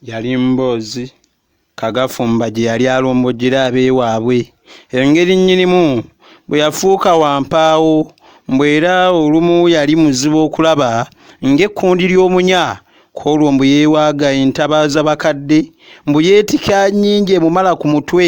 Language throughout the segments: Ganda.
yali mboozi kagafumba gye yali alombojera abeewaabwe engeri nnyinimu bwe yafuuka wampaawo mbu era olumu yali muzibu okulaba ng'ekkundi ly'omunya ku olwo mbu yeewaaga entabaaza bakadde mbu yeetika nnyingi emumala ku mutwe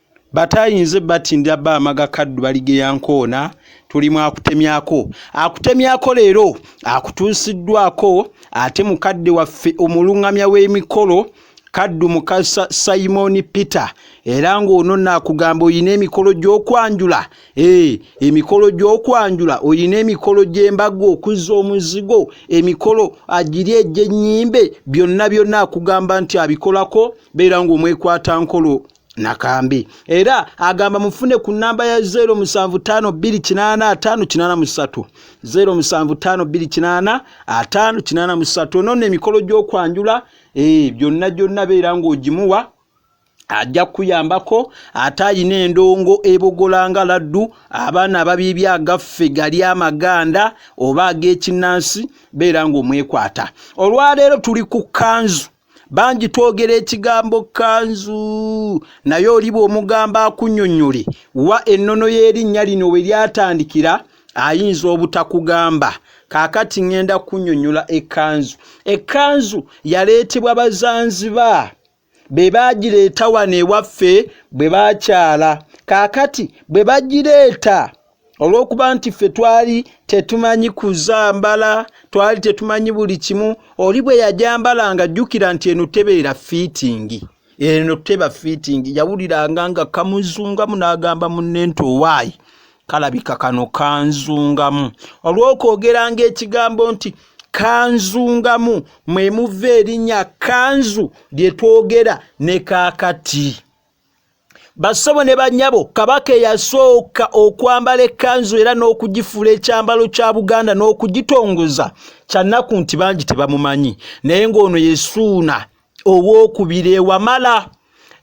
batayinze batindira ba amaga kaddu baligeya nkoona tulimu akutemyako akutemyako leero akutuusiddwako ate mukadde waffe omulungamya w'emikolo kaddu mukasa simoni peter era ng'ono naakugamba olina emikolo gy'okwanjula ee eh, emikolo gy'okwanjula olina emikolo gy'embaga okuzza omuzigo emikolo agiri egy'ennyimbe byonna byonna akugamba nti abikolako beera ng'omwekwata nkolo nakambi era agamba mufune ku namba ya 07528583 07528583 ono no emikolo gy'okwanjula eh, byonna gyonna beera ng'ogimuwa ajja kuyambako ate ayina endongo ebogolanga laddu abaana ababiibya agaffe gali amaganda oba ag'ekinnansi beera ng'omwekwata olwaleero tuli ku kanzu bangi twogera ekigambo kanzu naye oliba omugambo akunyonyole wa ennono y'erinnya lino we lyatandikira ayinza obutakugamba kaakati ŋŋenda kunyonyola ekkanzu ekkanzu yaleetebwa bazanziba be baagireeta wano ewaffe bwe baakyala kaakati bwe bagireeta olw'okuba nti ffe twali tetumanyi kuzambala twali tetumanyi buli kimu oli bwe yajambala nga jjukira nti eno tebeera fiitingi eno teba fiitingi yawuliranga nga kamuzungamu n'agamba munne nti owaayi kalabika kano kanzungamu olw'okwogeranga ekigambo nti kanzungamu mwe muva erinnya kanzu lye twogera ne kaakati bassebo ne bannyabo kabaka eyasooka okwambala ekkanzu era n'okugifuula ekyambalo kya buganda n'okugitongoza kyannaku nti bangi tebamumanyi naye ng'ono yesuuna ow'okubiri ewamala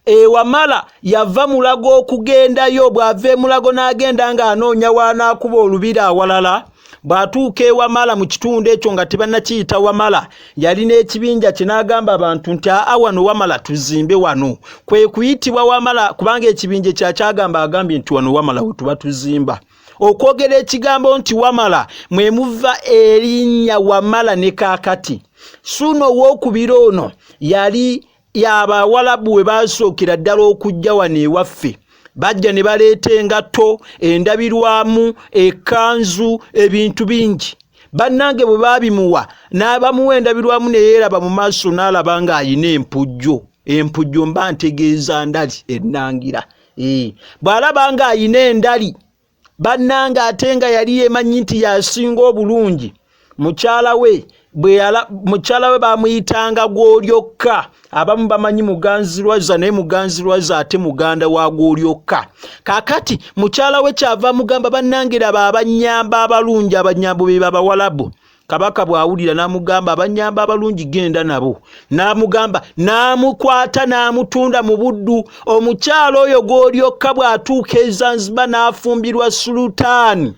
ewamala yava mulago okugendayo bw'ava emulago n'agenda ng'anoonya waanaakuba olubiri awalala bw'atuuka ewamala mu kitundu ekyo nga tebannakiyita wamala yali n'ekibinja kye n'agamba abantu nti aa wano wamala tuzimbe wano kwe kuyitibwa wamala kubanga ekibinja ekya kyagamba agambye nti wano wamala we tuba tuzimba okwogera ekigambo nti wamala mwe muva erinnya wamala ne kaakati suuna ow'okubira ono yali y'abawalabu we baasookera ddala okujja wano ewaffe bajja ne baleeta engatto endabirwamu ekanzu ebintu bingi bannange bwe baabimuwa n'abamuwa endabirwamu ne yeeraba mu maaso n'alaba ng'alina empujjo empujjo mba ntegeeza ndali ennangira bw'alaba ng'alina endali bannange ate nga yali yemanyi nti yasinga obulungi mukyala we mukyala we bamuyitanga gwolyokka abamu bamanyi muganzirwaza naye muganzirwaza ate muganda wa gwolyokka kakati mukyala we kyava mugamba bannange laba abanyamba abalungi abanyambo be babawalabu kabaka bw'awulira n'amugamba abanyamba abalungi genda nabo n'amugamba n'amukwata n'amutunda mu buddu omukyalo oyo gw'olyokka bw'atuuka ezanziba n'afumbirwa sulutaani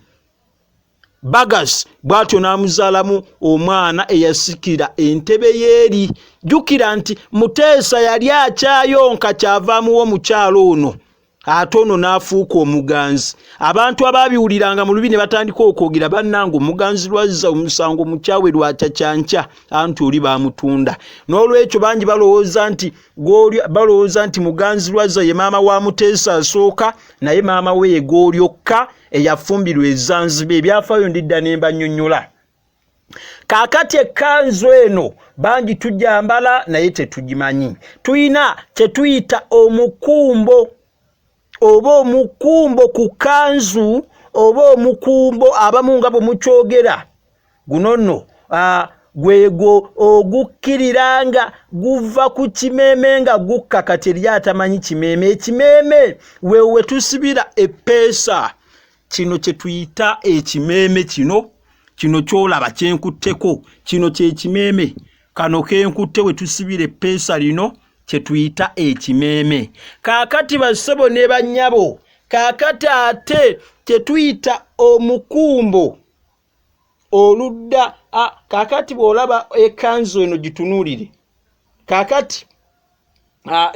bagas bw'atyo n'amuzaalamu omwana eyasikira entebe y'eri jjukira nti muteesa yali akyayonka kyava amuwa omukyalo ono ate ono n'afuuka omuganzi abantu abaabiwuliranga mu lubi ne batandika okwogera bannanga omuganzi lwazza omusango mukyawe lwakyakyankya anti oli baamutunda n'olwekyo bangi balowooza nti goli balowooza nti muganzi lwazza ye maama wa muteesa asooka naye maama we ye golyokka eyafumbirwa ezanziba ebyafaayo ndidda ne mbanyonyola kaakati ekkanzu eno bangi tujambala naye tetugimanyi tulina kyetuyita omukumbo oba omukumbo ku kanzu oba omukumbo abamu nga bwe mukyogera guno nno gwegwo ogukkirira nga guva ku kimeeme nga gukka kati eri atamanyi kimeeme ekimeeme wewe tusibira eppeesa kino kye tuyita ekimeeme kino kino kyolaba kyenkutteko kino kyekimeeme kano kenkutte we tusibira eppeesa lino kye tuyita ekimeeme kaakati bassebo ne bannyabo kaakati ate kye tuyita omukumbo oludda kakati bw'olaba ekanzu eno gitunuulire kakati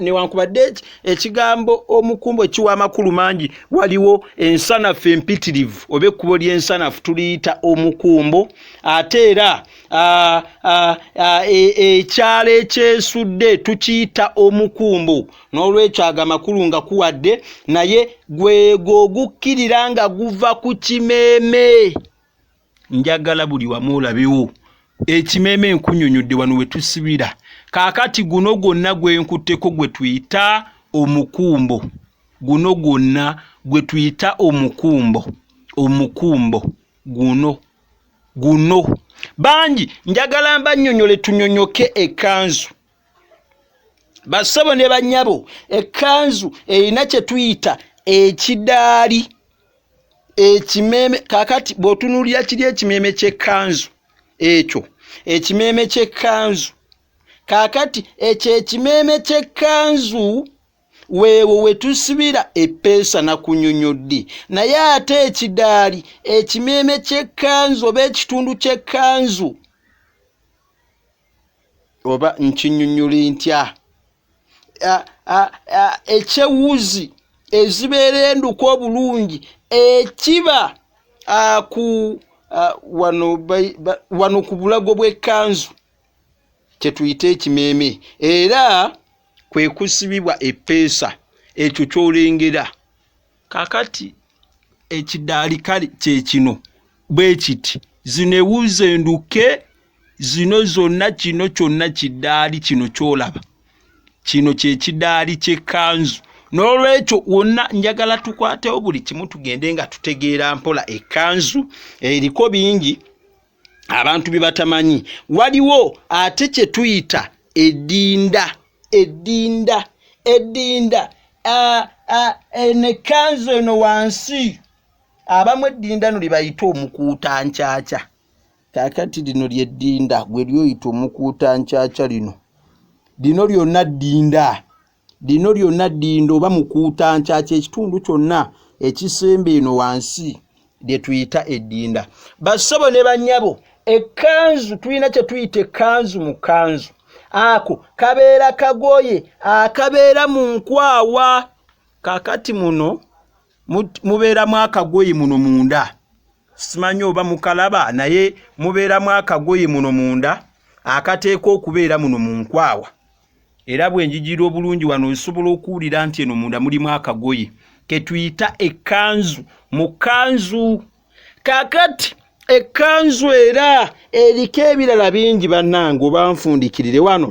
newankubadde ekigambo omukumbo ekiwa amakulu mangi waliwo ensanafu empitirivu oba ekkubo ly'ensanafu tuliyita omukumbo ate era e, ekyalo ekyesudde tukiyita omukumbo n'olwekyo ago amakulu nga kuwadde naye gwego ogukkirira nga guva ku kimeeme njagala buli wamu olabewo ekimeeme nkunyonyodde wano we tusibira kaakati guno gwonna gwe nkutteko gwe tuyita omukumbo guno gwonna gwe tuyita omukumbo omukumbo guno guno bangi njagala mbanyonyole tunyonyoke ekanzu bassebo ne bannyabo ekkanzu erina kye tuyita ekidaali ekimeeme kakati bw'otunuulira kiri ekimeeme ky'ekkanzu ekyo ekimeeme ky'ekkanzu kakati ekyo ekimeeme ky'ekkanzu weewo we tusibira eppeesa na kunyonyodde naye ate ekidaali ekimeeme ky'ekkanzu oba ekitundu ky'ekkanzu oba nkinyunyuli ntya ekyewuzi ezibeera enduka obulungi ekiba ku wano ku bulago bw'ekkanzu kye tuyita ekimeeme era kwe kusibibwa eppeesa ekyo ky'olengera. kakati ekidaali kale kyekino bwe kiti zino ewuuza enduke zino zonna kino kyonna kidaali kino kyolaba kino kyekidaali kyekanzu n'olwekyo wonna njagala tukwatewo buli kimu tugende nga tutegeera mpola ekanzu eriko bingi abantu bye batamanyi waliwo ate kye tuyita eddinda eddinda eddinda eno ekkanzu eno wansi abamu eddinda no lyebayita omukuuta nkyakya kakati lino lyeddinda gwe lyoyita omukuuta nkyakya lino lino lyonna ddinda Lino lyonna ddindo oba mukuutankya ky'ekitundu kyonna ekisemba eno wansi lye tuyita eddinda. Bassebo ne bannyabo, ekkanzu tulina kye tuyita ekkanzu mu kkanzu. Ako kabeera kagoye akabeera mu nkwawa. Kaakati muno mubeeramu akagoye muno munda. simanyi oba mukalaba naye mubeeramu akagoye muno munda akateeka okubeera muno mu nkwawa era bwenjigira obulungi wano osobola okuwulira nti eno munda mulimu akagoye ketuyita ekkanzu mu kanzu kakati ekkanzu era eriko ebirala bingi bannange obanfundikirire wano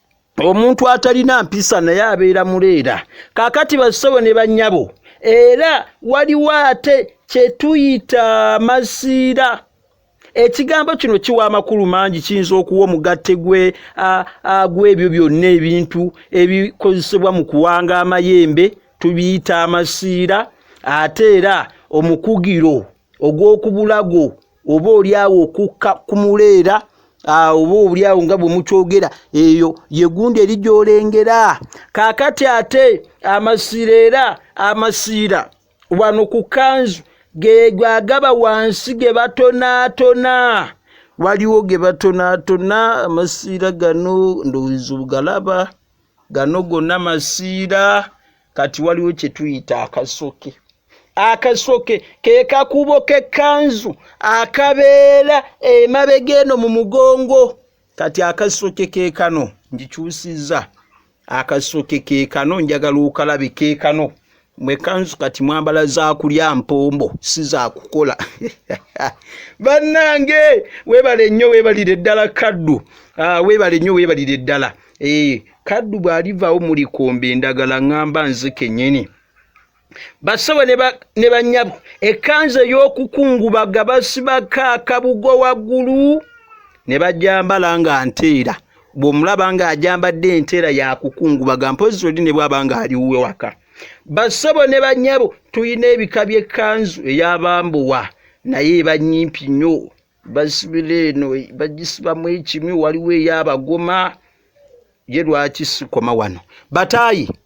omuntu atalina mpisa naye abeera muleera kakati basobo ne banyabo era waliwo ate kyetuyita masiira ekigambo kino kiwa amakulu mangi kiyinza okuwa omugatte gwe gw'ebyo byonna ebintu ebikozesebwa mu kuwanga amayembe tubiyita amasiira ate era omukugiro ogw'okubulago oba olyawo okukka ku muleera oba obuliawo nga bwe mukyogera eyo yegundi eri gyolengera kakati ate amasiira era amasiira wano ku kanzu gegagaba wansi ge batonaatona waliwo ge batonaatona amasiira gano ndowooza ogalaba gano gonna masiira kati waliwo kye tuyita akasoke akasoke ke kakubo k'ekkanzu akabeera emabega eno mu mugongo kati akasoke ke kano ngikyusizza akasoke ke kano njagala okalabe ke kano mwe kanzu kati mwambala za kulya mpombo si za kukola bannange weebale nnyo weebalire ddala kaddu ah, weebale nnyo weebalire ddala eh, kaddu bw'alivaawo mulikomba endagala ŋŋamba nze kennyini bassebo ne bannyabo ekkanza ey'okukungubaga basibako akabugo waggulu ne bajambala nga nteera bw'omulaba ng'ajambadde enteera yakukungubaga mpozi oli ne bwaba ng'aliwuwe waka bassebo ne bannyabo tulina ebika by'ekkanzu eyabambuwa naye eba nyimpi nnyo basibira eno bagisibamu ekimu waliwo eyabagoma ye lwaki sikoma wano bataayi